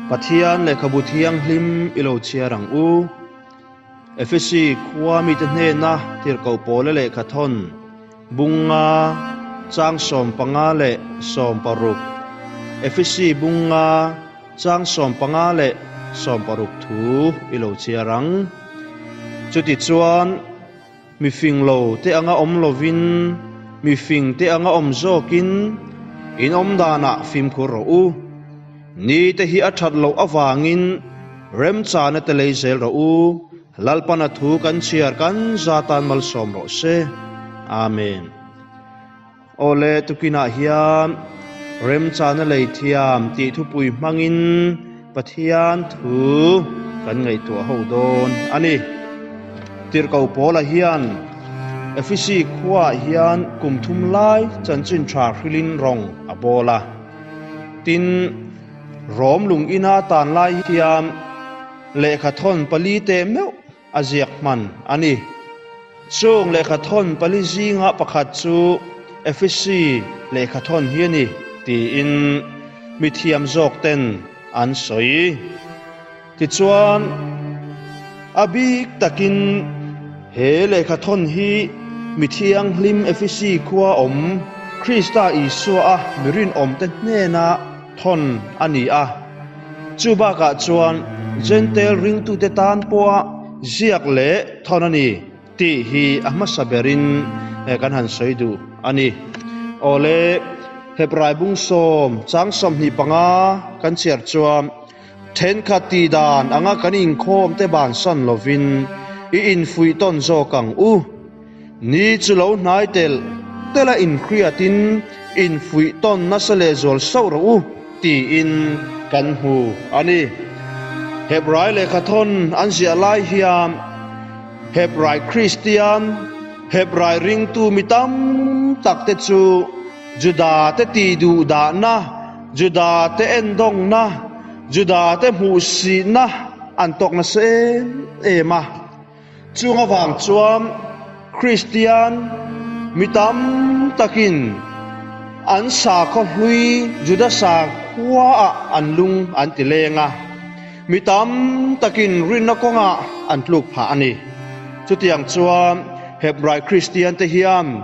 Pathian lehkhabu thianghlim i lo chhiar ang u. Efesi khua mite hnena tirhkoh pawla lehkha thawn bunga chang sawm panga leh sawm paruk, Efesi bunga chang sawm panga leh sawm paruk thu i lo chhiar ang. Chuti chuan. Mifing lo te anga awm lovin mifing te anga awm zawkin in awm danah fimkhur rawh u. Ni te hi a that loh avangin remchana te lei zel rawh u. Lalpana thu kan chhiar kan za tan malsawm rawh se. Amen. Awle tukinah hian remchana lei thiam tih thupui hmangin Pathian thu kan ngaihtuah ho dawn a ni. Tirhko Paula hian Efesi khuaah hian kum thum lai chanchin tha hrilhin rawng a bawl a. Tin, Rom lungina tanlai thiam lehkha thawn pali te meuh, a ziak hman a ni. Chûng lehkhathawn pali zînga pakhat chu Efisi lehkhathawn hi a ni tiin mithiam zâwkten an sawi. Tichuan, a bîk takin he lehkhathawn hi mithianghlim Efisi khua awm Krista Isua a mi rinawmte hnênah, thawn a ni a. Chubakah chuan Jentail ringtute tan pawha ziak leh thawn a ni tih hi a hmasa berin kan han sawi duh a ni. Awle, Hebraibung sawm chang sawmhnih panga kan chhiar chuan. Thenkhat tih dan anga kan inkhawm te ban san lovin i infuih tawn zawk ang u. Ni chu lo hnai telh telh a inhriat in infuih tawn nasa leh zual sauh rawh u tiin kan hmu a ni. Hebrai lehkha thawn an ziah lai hian Hebrai Kristian, Hebrai ringtu mi tam tak te chu Juda te tih duhdahna, Judah te endawngna, Judah te hmuhsihna an tawk nasa em em a. Chung avang chuan Kristian mi tam takin an sakhaw hlui Judah sang khuaah an lung an ti leng a. Mi tam takin rinna kawngah an tluk phah a ni. Chutiang chuan Hebrai Kristiante hian,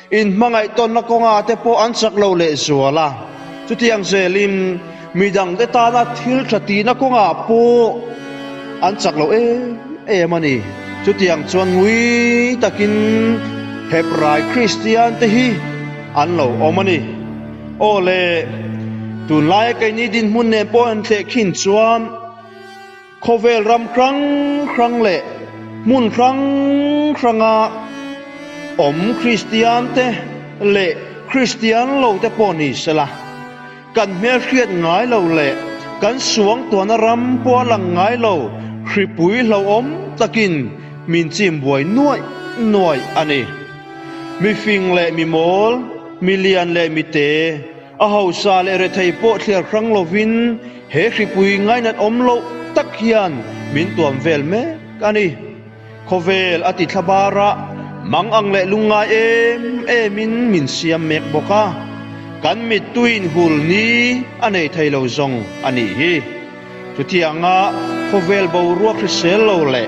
In hmangaihtawnna kawnga te pawh an chak lo leh zual a, chutiang zelin midang te tana thil tha tihna kawnga pawh an chak lo em em a ni. Chutiang chuan ngui takin Hebrai Kristian te hi an lo awm a ni. Aw le, tunlai a keini dinhmun nen pawh a inhleh khin chuan, Khawvel ram hrang hrang leh hmun hrang hranga awm Kristian te leh Kristian lo te pawh ni sela, kan hmelhriat ngai lo leh kan suangtuahna ram pawh a lang ngai lo hripui hlauhawm takin min chimbuai nuaih nuaih a ni. Mifing leh mimawl, milian leh mite, A hausa leh rethei pawh thliar hrang lovin he hripui ngainat awm loh tak hian min tuam vel mek a ni. Khawvel a tithla barah mang ang leh lungngai em emin min siam mek bawk a, kan mittui inhul ni a nei thei lo zawng a nih hi. Chutianga khawvel boruak hrisel lo leh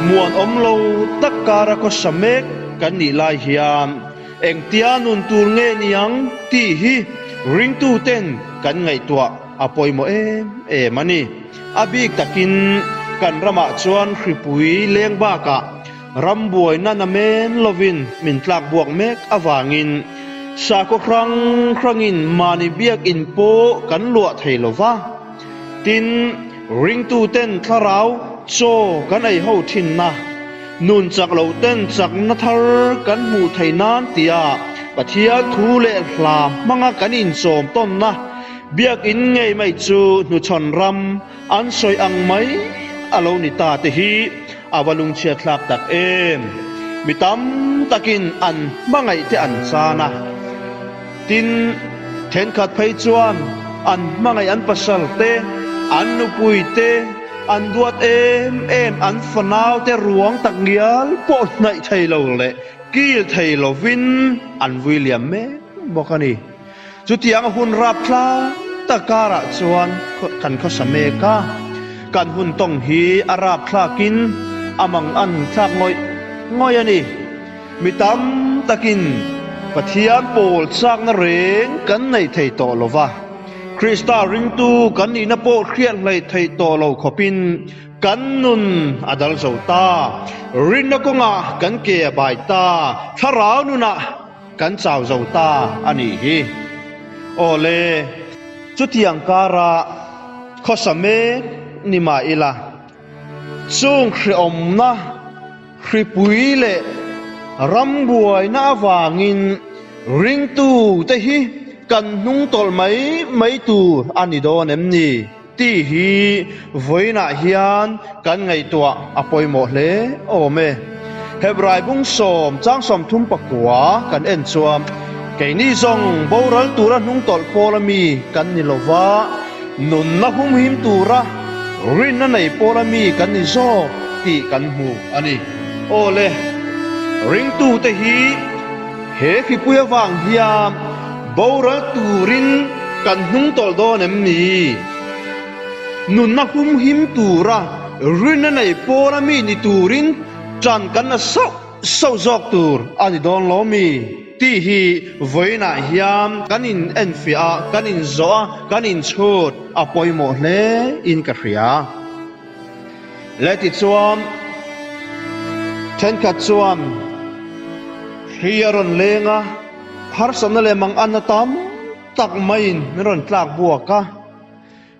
muan awm lo tak kara khawsa mek kan nih lai hian, Engtia nun tur nge niang tih hi ringtu ten kan ngaihtuah a pawimawh em em a ni. A bik takin kan ramah chuan hripui leng bakah ram buai nana men lovin min tlak buak mek avangin sakhaw hrang hrangin mahni biak in pawh kan luah thei lo va. Tin, ringtuten thlarau chaw kan eiho thinna, nun chak loh ten chakna thar kan hmuh theih nan tia Pathian thu leh hla hmanga kan insawm tawnna biakinn ngei mai chu hnuchhawn ram an sawi ang mai a lo ni ta te hi a va lungchhiatthlak tak em! Mi tam takin an hmangaihte an chan a. Tin, thenkhat phei chuan an hmangaih an pasalte, an nupuite, an duat em em, an fanaute ruang tak ngial pawh hnaih thei lo leh kil thei lovin an vui liam mek bawk a ni. Chutianga hun rap tlang tak karah chuan kan khawsa mek a, kan hun tawng hi a rap thlakin a mang a nung thlak ngawih ngawih a ni. Mi tam takin Pathian pawl chakna reng kan neih thei tawh lo va, Krista ringtu kan nihna pawh hriat hlaih thei tawh lo khawpin kan nun a dal zo ta, rinna kawngah kan ke a bai ta, thlarau nunah kan chau zo ta a nih hi. Awle, chutiang karah khawsa mek ni mah ila chûng hreawmna, Hripui leh rambuaina avangin ringtu te hi kan hnung tawlh mai mai tu a ni dawn em ni? Tih hi vawiinah hian kan ngaihtuah a pawimawh hle awm e. Heb raibung sawm chang sawm thum pakua kan en chuan keini zawng boral tura hnung tawlh pawl ami kan ni lo va, Nunna humhim tura rinna nei pawla mi kan ni zawk tih kan hmu a ni. Aw le, ringtute hi he khipui avang hian boral turin kan hnung tawlh dawn em ni? Nunna humhim tura rinna nei pawla mi ni turin ṭan kan la sauh sauh zawk tur a ni dawn lo mi? Tih hi vawiinah hian kan in enfiah a, kan in zawh a, kan in chhut a pawimawh hle in ka hria. Leh tichuan thenkhat chuan hri a rawn leng a, harsatna leh manganna tam tak maiin min rawn tlak buak a.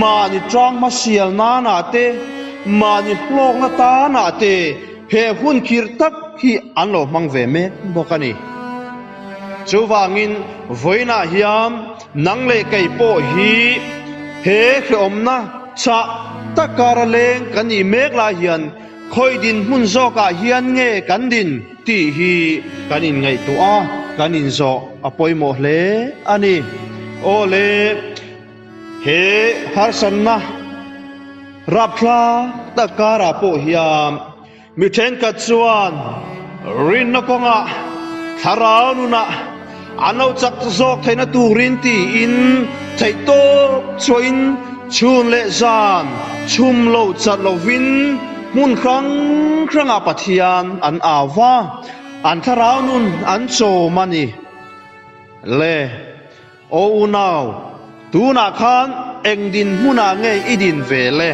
mahni tlangma sial nanah te, mahni hlawkna tanah te he hun kirh tak hi an lo hmang ve mek bawk a ni. Chuvangin vawiinah hian nang leh kei pawh hi he hlauhawmna chah tak kara leng kan nih mek lai hian khawi din hmun zawkah hian nge kan din tih hi kan inngaihtuah a, kan inzawh a pawimawh hle a ni. Awle. He harsatna rap hla tak karah pawh hian mi thenkhat chuan rinna kawngah thlarau nunah a lo chak zawk theihna turin tiin theih tawp chhuahin chhun leh zan chhum lo chat lovin hmun hrang hrangah Pathian an au a, an thlarau nun an chawm a ni le. Aw unau, tunah khan eng din hmunah nge i din ve le?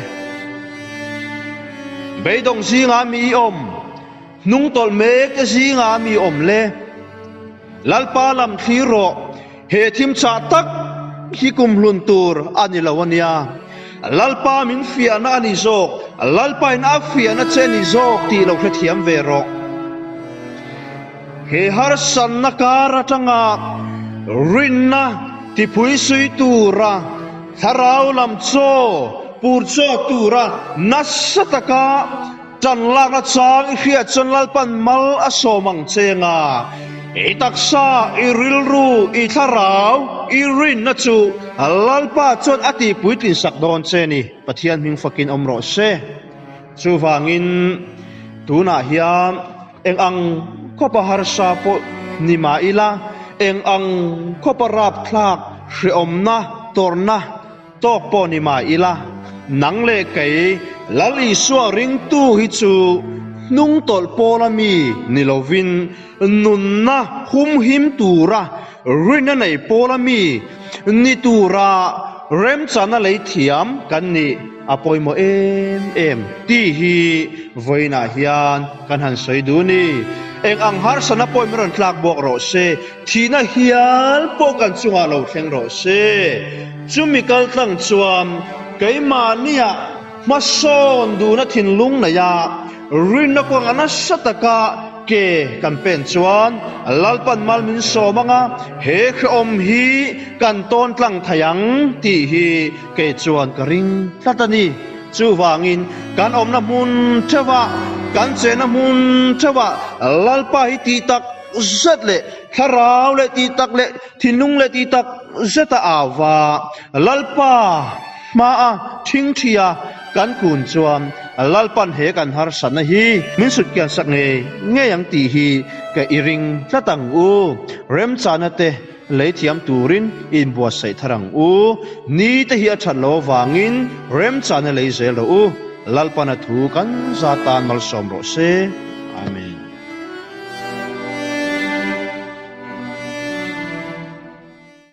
Beidawng zingah mi i awm, hnung tawlh mek te zingah mi awm le? Lalpa lam thlir rawh, he thim chah tak hi kum hlun tur a ni lo a nia. Lalpa min fiahna a ni zawk, Lalpa in a fiahna che a ni zawk ti lo hrethiam ve rawh. He harsanna kar atanga rinna tipui sui tura thlarau lam chaw pur chawk tura nasa taka tan lakna chang i hriat chuan Lalpan mal a sawm ang che nga. I taksa, i rilru, i thlarau, i rinna chu Lalpa chuan a tihpui tlinsak dawn che ni. Pathian hming fakin awm rawh se. Chuvangin tunah hian. Eng ang khawpa harsa pawh ni mah ila, eng ang khawpa rapthlak hrehawmna tawrhna tawk pawh ni mah ila, nang leh kei Lal Isua ringtu hi chu hnungtawlh pawla mi ni lovin nunna humhim tura, Rin a nei pawl a mi ni tura remchana lei thiam kan nih a pawimawh em em ti hi vawiinah hian kan han sawi dun i, eng ang harsatna pawh min rawn tlak buak rawh se, thihna hial pawh kan chungah lo thleng rawh se. Chumi kaltlang chuan keimahniah. Hmasawn duna thinlung neia rinna kuanga nasa taka ke kan pen chuan Lalpan Malmin sawm anga he khrehawm hi kan tawn tlang thei ang tih hi kei chuan ka ring tlat a ni. Chuvangin kan awmna hmun theuha, kan chenna hmun theuha Lalpa hi tih tak zet leh thlarau leh tih tak leh thinlung leh tih tak zeta ava Lalpa, Hma a, thing thi a, kan kun chuan Lalpan he kan harsat na hi min sut kian sak ngei ngei ang tih hi ka i ring tlat ang u, remchana te lei thiam turin in buatsaih thar ang u, ni te hi a that lo avangin remchana lei zel rawh u, Lalpana thu kan za tan malsawm rawh se. Amen.